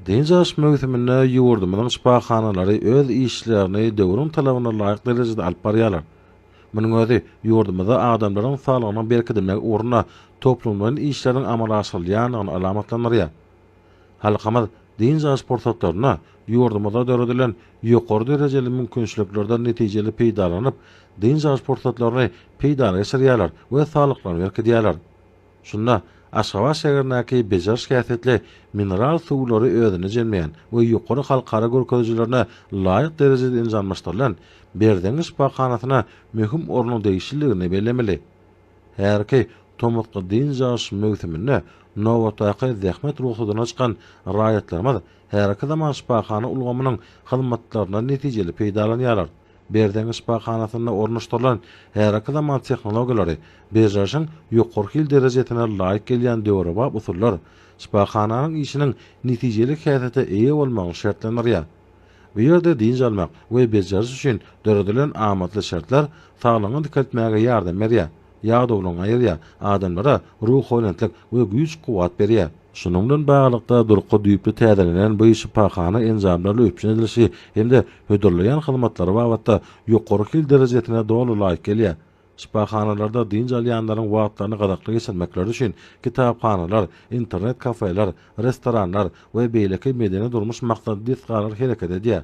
Dynç alyş möwsüminde ýurdumyzyň şypahanalary öz işlerini döwrüň talabyna laýyk derejede alyp barýarlar. Munuň özi ýurdumyzda adamlaryň saglygynyň berkidilmegi ugrunda toplumlaýyn işleriň amala aşyrylýandygyny alamatlandyrýar. Halkymyz dynç alyş pursatlarynda ýurdumyzda döredilen ýokary derejeli mümkinçiliklerden netijeli peýdalanyp, dynç alyş pursatlaryny peýdana geçirýärler we saglyklaryny berkidýärler. Şunda Aşgabat şäherindäki bejeriş häsiýetli mineral suwlary özüne jemleýän we ýokary halkara görkezijilerine laýyk derejede enjamlaşdyrylan Berzeňňi şypahanasyna möhüm ornuň degişlidigini bellemeli. Häzirki tomusky dynç alyş möwsüminde nobatdaky zähmet rugsadyna çykan raýatlarymyz häzirki zaman şypahana ulgamynyň hyzmatlaryndan netijeli peýdalanýarlar. Berzeňňi şypahanasynda ornaşdyrylan häzirki zaman tehnologiýalary, bejerişiň ýokary hil derejesine laýyk gelýän döwrebap usullar şypahananyň işiniň netijeli häsiýete eýe bolmagyny şertlendirýär. Bu ýerde dynç almak we bejeriş üçin döredilen amatly şertler saglygyňy dikeltmäge ýardam berýär. Ýadawlaryňy aýyrýar, adamlara ruhubelentlik we güýç-kuwwat berýär. Şunuň bilen baglylykda, durky düýpli täzelenen bu şypahana enjamlaryny üpjün edilişi hem-de hödürleýän hyzmatlary babatda ýokary hil derejesine doly laýyk gelýär. Şypahanalarda dynç alýanlaryň wagtlaryny gyzykly geçirmekleri üçin kitaphanalar, internet-kafeler, restoranlar we beýleki medeni-durmuş maksatly desgalar hereket edýär.